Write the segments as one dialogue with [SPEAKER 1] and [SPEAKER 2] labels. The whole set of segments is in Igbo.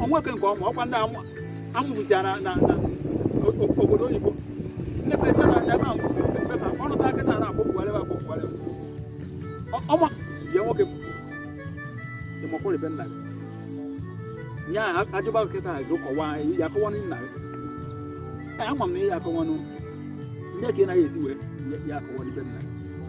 [SPEAKER 1] o nweke nke ọma ọkwa ndị amụfụchara na obodo oyibo ndị fecha na ebe a mfefa ọnụta aka na akpọpụgharị akpọpụgharị ọma ya nwoke ịmakwụrụ ebe nna gị nya ajụba kịta gị kọwa ya akọwa nna gị ama m na ihe akọwanụ ndị ka ị naghị esi wee ya akọwa na be nna gị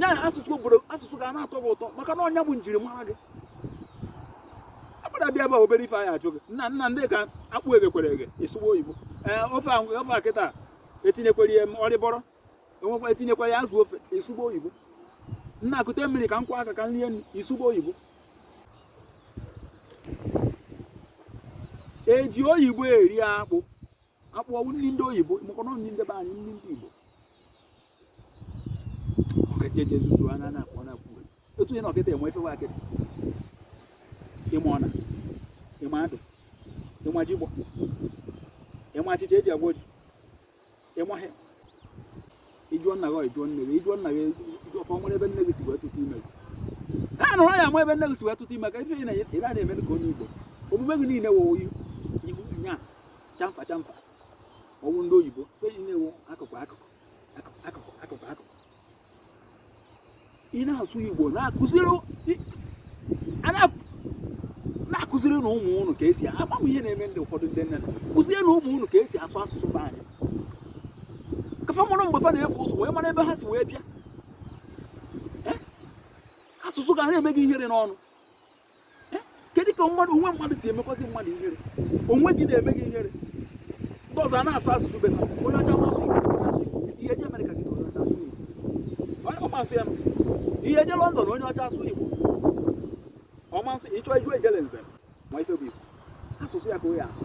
[SPEAKER 1] ya na asụsụ obodo asụsụ ga na-atọ gị ụtọ maka na ọ nya bụ njirimara gị akpara bịa ebe obere ife a ya-ajụ gị nna nna nekwa akpụ eghekwere eghe ị sụwa oyibo ee ofe a ofe a kịta etinyekwere ya ọrịbọrọ enwekwa etinyekwere ya azụ ofe ị sụwa oyibo nna kute mmiri ka m kwọọ aka ka m rie nụ ị sụwa oyibo eji oyibo eri akpụ akpụ ọ wụ nri ndị oyibo maka na ọ nri ndị be anyị nri ndị igbo ọkejeje zuzu anya na akpụ ọ na-akpụ uwe. otu ihe na ọkịta enwe efewe kịta ị ma ọna ị ma adụ ị ma jigbọ ị ma achịcha eji agwọ ji ị ma ha ị jụọ nna gị ị jụọ nne gị ị jụọ nna gị ị jụọ ka ọ nwere ebe nne gị si wee tụta ime gị ha nụrụ ya ma ebe nne gị si wee tụta ime ka ife ị na-eme ị na-eme ka onye Igbo omume gị niile wụ ihu nya chamfa chamfa ọ wụ ndị oyibo fe na-ewu akụkụ akụkụ akụkụ akụkụ akụkụ ị na-asụ igbo na-akụziri na-akụzirinụ ụmụ unu ka esi ama m ihe na-eme ndị ụfọdụ ndị nne kụzierenụ ụmụ unu ka esi asụ asụsụ be anyị ka fa mụrụ mgbe fa na-efu ụzọ wee mara ebe ha si wee bịa asụsụ ga na-eme gị ihere n'ọnụ eh, kedu ka mmadụ onwe mmadụ si emekwazi mmadụ ihere onwe gị na-eme gị ihere ndị ọzọ a na-asụ asụsụ be ha onye ọcha ma sụ ị ya-eje Amerịka gị onye ọcha asụ Igbo ọ ma sụ ya ị ya-eje London onye ọcha asụ Igbo ọ ma sụ ị chọ iju ejele nze ma ife bụ Igbo asụsụ ya ka ọ ya-asụ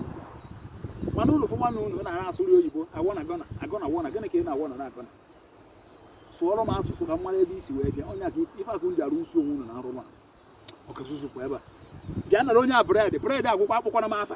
[SPEAKER 1] mana unu fụma na unu na-ara asụrụ oyibo a gonna gonna a gonna wanna gịnị ka ị na-agọna na-agọna sụọrọ m asụsụ ka m mara ebe i si wee bịa onye aka ife akụ ndị arụ usi onwe unu na arụrụ a ọka zuzukwa ebe a bịa nara onye a bread bread agwụkwa akpọkwana m afa